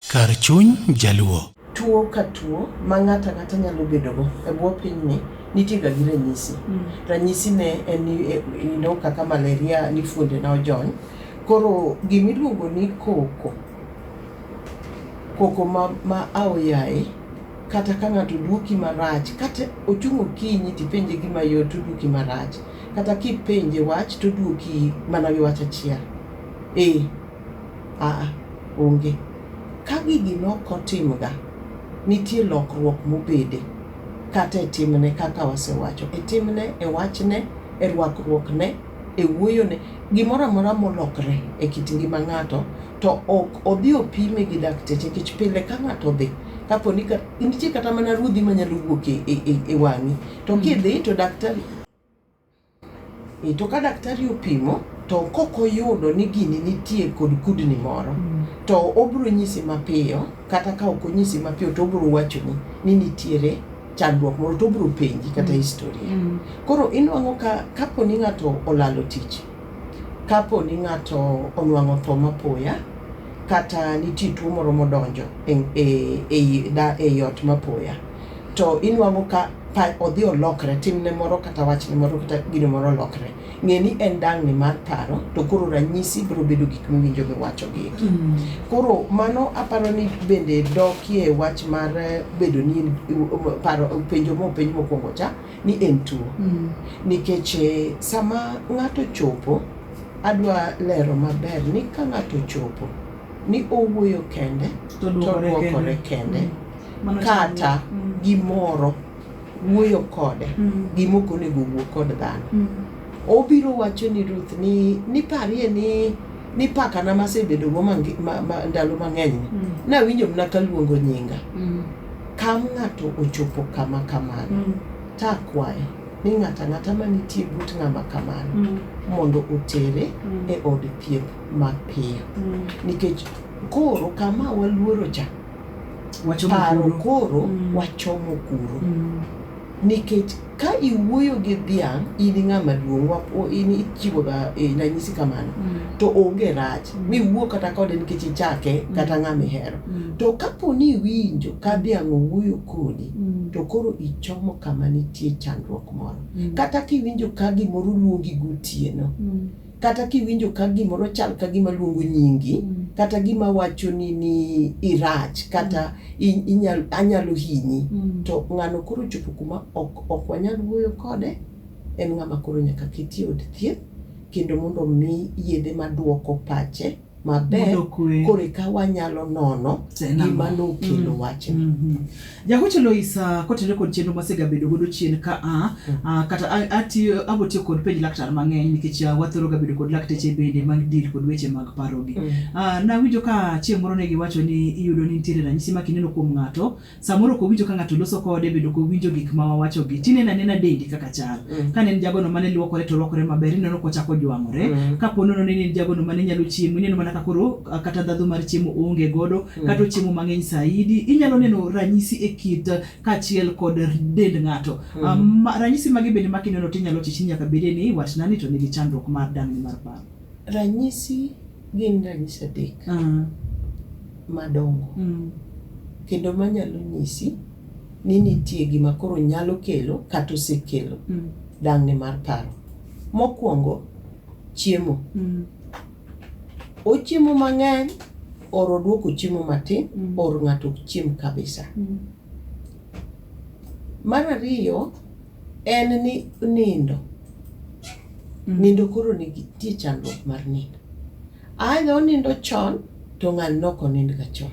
Kar chuny jaluo. Tuo ka tuo ma ng'ato ang'ata nyalo bedogo e bwo pinyni nitiega gi ranyisi. Mm. Ranyisi ne en ni eh, you know, kaka malaria ni fuonde na ojony. Koro gimiluongo ni koko, koko ma, ma aoyaye kata ka ng'ato duoki marach kata ochung' okinyi tipenje gima yot toduoki marach kata kipenje wach toduoki mana gi wach achiel. Eh. Aa, onge. Ka gigi nok otimga, nitie lokruok mobede, kata e timne, kaka wasewacho, e timne, e wachne, e rwakruokne, e wuoyone, gimoro amora molokre e kit ngima ng'ato, to ok odhi opime gi dakteche, nikech pile ka ng'ato odhi, kapo ni ka, nitie kata mana ruodhi manyalo wuok e, e, e, e wang'i, to kidhi to daktari, E, to ka daktari opimo to kok oyudo ni gini nitie kod kudni moro mm. to obiro nyisi mapiyo kata ka ok onyisi mapiyo to obiro wachoni ni nitiere chandruok moro to obiro penji kata mm. historia mm. koro inwang'o ka kapo ni ng'ato olalo tich kapo ni ng'ato onwang'o tho mapoya kata nitie tuo moro modonjo e, e, e, e, e ot mapoya to inwang'o ka pa odhi olokre timne moro kata wachne moro kata gino moro olokre ng'e ni en dang'ni mar paro to koro ranyisi biro bedo gik miwinjo miwacho gi eki mm. koro mano aparo ni bende dokie wach mar eh, bedo ni paro penjo mo penj mokwongo cha ni en tuo mm. nikech eh, sama ng'ato chopo adwa lero maber ni ka ng'ato chopo ni owuoyo kende to dwokore kende mm. kata gimoro wuoyo kode mm. gima ok onego wuo kod dhano mm. obiro wacho ni Ruth ni niparie ni ni pakana masebedogo ndalo mang'eny ni mm. nawinjo mna kaluongo nyinga mm. kam ng'ato ochopo kama kamano mm. takwaye ni ng'ata ng'ata manitie but ng'ama kamano mm. mondo otere mm. e od thieth mapiyo mm. nikech koro kama waluoro cha paro koro mm. wachomo kuro mm. nikech ka iwuoyo gi dhiang' in ng'ama duong' in ichiwoga e, ranyisi kamano mm. to onge rach mm. miwuo kata kode nikech ichake mm. kata ng'ama ihero mm. to kapo ni iwinjo ka dhiang' owuoyo kodi mm. to koro ichomo kama nitie chandruok moro mm. kata kiwinjo ka gimoro luongi gotieno mm. kata kiwinjo ka gimoro chal ka gima luongo nyingi mm. kata gima wacho ni ni irach kata mm. inyal, anyalo hinyi mm. to ng'ano koro chopo kuma ok, ok wanyal wuoyo kode en ng'ama koro nyaka keti od thieth kendo mondo mi yedhe maduoko pache maber Yudo kwe. koro eka wanyalo nono Tena. gima nokelo wachni Mhm. jagocho loisa kotenore kod chenro masegabedo godo chien ka a a, kata a- atiyo- abotiyo kod penj laktar mang'eny nikech ah, wathoro gabedo kod lakteche bende mag deal kod weche mag parogi Ah, nawinjo ka chieng' moro ne giwacho ni iyudo ni nitiere ranyisi ma kineno kuom ng'ato samoro kowinjo ka ng'ato loso kode bedo kowinjo gik ma wawachogi tineno anena dendi kaka chal mm. kane en jagono mane luokore to luokore maber ineno kochako jwang'ore mm. ka po nono nene en jagono mane nyalo chiemo ineno mana kakoro kata dhadho mar chiemo onge godo mm. kata ochiemo mang'eny saidi inyalo neno ranyisi e kit kaachiel kod dend ng'ato mm. um, ranyisi magi bende makineno tinyalo chichi nyaka bede ni watnani to nigi chandruok mar dang'ni mar paro Ranyisi gin ranyisi adek madongo kendo manyalo nyisi ni nitie gima koro nyalo kelo kata osekelo dang'ni mar paro. Mokwongo, chiemo. Ochiemo mang'eny or odwoko chiemo matin or ng'ato ok chiem kabisa. Mar ariyo en ni nindo, nindo koro nitie chandruok mar nindo. Either onindo chon to ng'ani ne ok onind ga chon.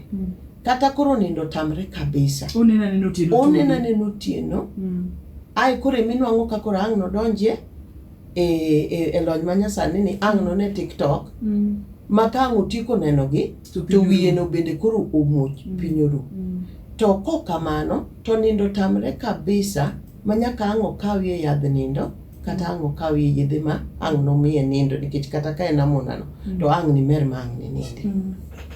Kata koro nindo otamre kabisa. Oneno anena otieno to Oneno onge. anena otieno, Mm. ae koro ema inuang'o ka koro ang' nodonjie e, e, e lony ma nyasani ni ang' none TikTok Mm. ma ka ang' otieko nenogi To to piny wiyeno oru. bende koro omuoch Mm. piny oru Mm. to kok kamano to nindo tamre kabisa ma nyaka ang' okawie yadh nindo kata ang' okawie yedhe ma ang' nomiye nindo nikech kata ka en amonano Mm. to ang' nimer ma ang' ninindi Mm.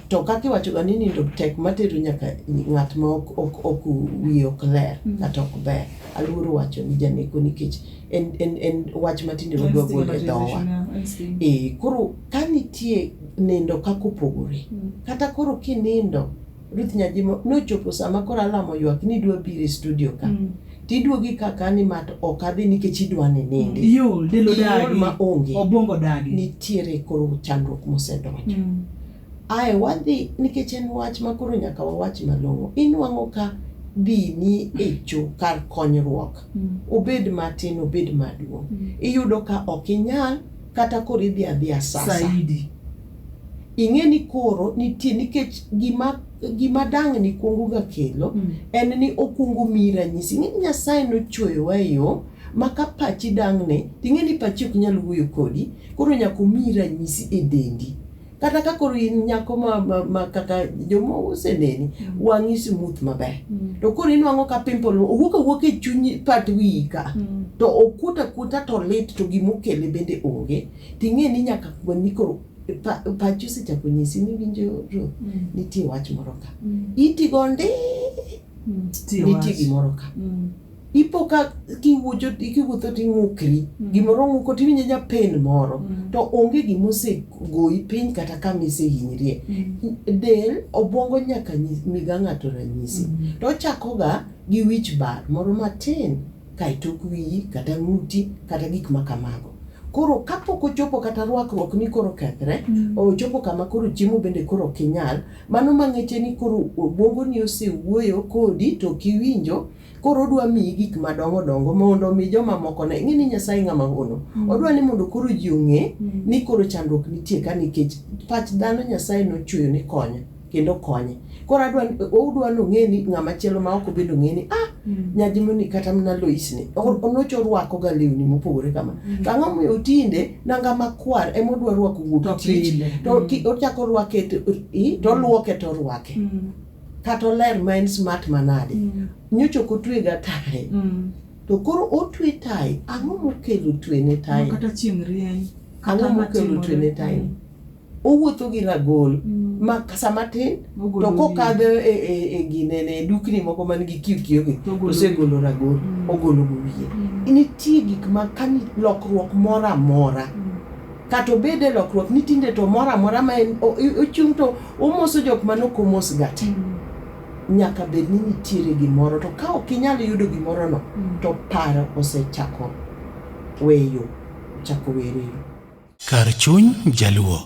to kaka iwachoga ni nindo tek matero nyaka ng'at ma ok, ok, ok wiye ok ler Mm. kata ok ber aluoro wacho ni janeko nikech en, en, en wach matinde wadwa Instinct golo e dhowa matization, yeah, instinct. e koro Ka nitie nindo kaka opogore, Mm. kata koro kinindo, Ruth Nyajimo, nochopo sama koro alam oywak ni idwa biro e studio ka. Mm. Tiduogi ka ka ni mat ok adhi nikech idwa ni nindi. Iol, del Iol odagi. ma onge. Obwongo odagi. Nitiere koro chandruok mosedonjo. Mm. Ae wadhi nikech en wach ma koro nyaka wawach malong'o. Inwang'o ka dini e cho kar konyruok. Mm. Obed matin, obed maduong'. Mm. Iyudo ka ok inyal kata koro idhi adhiya sasa saidi ing'e ni koro nitie nikech gima gima dang' ni kuongo ga kelo Mm. en ni okuongo miyi ranyisi ing'e ni nyasaye nochweyowa e yo ma ka pachi dang' ne ting'e ni pachi ok nyal wuoyo kodi koro nyaka omiyi ranyisi e dendi kata ka koro in nyako ma, ma, ma kata joma oseneni Mm. wang'i smooth maber Mm. to koro inwang'o ka pimple owuok awuok e chuny pat wiyi ka Mm. to okuot akuota to lit to gimokele bende onge ting'e ni nyaka kuoni koro pa- pachi osechako nyisi ni winjo ro Mm. nitie wach moro ka Mm. itigo ndi Mm. Tiyo nitie wach. gimoro ka Mm. ipo ka kiwuocho kiwuotho ting'ukri mm. gimoro ng'uko tiwinjo nyapen moro mm. to onge gima osegoyi piny kata kama isehinyrie mm. del obwongo nyaka miga ng'ato ranyisi to ochakoga gi wich bar moro matin kaeto ok wiyi kata ng'uti kata gik ma kamago koro kapok ochopo kata rwakruok ni koro kethre ochopo kama koro chiemo bende koro ok inyal mano mang'eche ni koro obwongoni osewuoyo kodi to ok iwinjo Koro odwa miyi gik madongo dongo mondo omi joma moko ne. Ing'e ni Nyasaye ng'ama hono. Mm. Odwa ni mondo koro ji ong'e mm. ni koro chandruok nitie ka nikech pach dhano Nyasaye nochweyo ni konye kendo konye. Koro adwa odwa ni ong'e ni ng'ama chielo ma ok obed ong'e ni ah mm. nyajimoni kata mana Lois ni onocho rwako ga lewni mopogore kama. Mm. To ang'o momiyo tinde nanga makwar ema odwa rwako wuok tich. To mm. ochako rwake to olwoke to orwake. Mm. kata oler ma en smart manade mm. nyocha ok otwega tae mm. to koro otwe tae ang'o mokelo twene tae kata chieng' rieny ang'o mokelo twene tae mm. owuotho gi ragol mm. ma sama tin to kokadho e, e, e ginene e dukni moko man gi kiyokiyogi osegolo ragol mm. ogolo go wiye mm. nitie gik ma kani lokruok moro amora mm. Kata obed e lokruok ni tinde to moro amora ma en o- i- ochung' to omoso jok ma nok omosga te. Nyaka bed ni nitiere gimoro to ka ok inyal yudo gimorono to paro osechako weyo, chako weyo. Kar chuny Jaluo.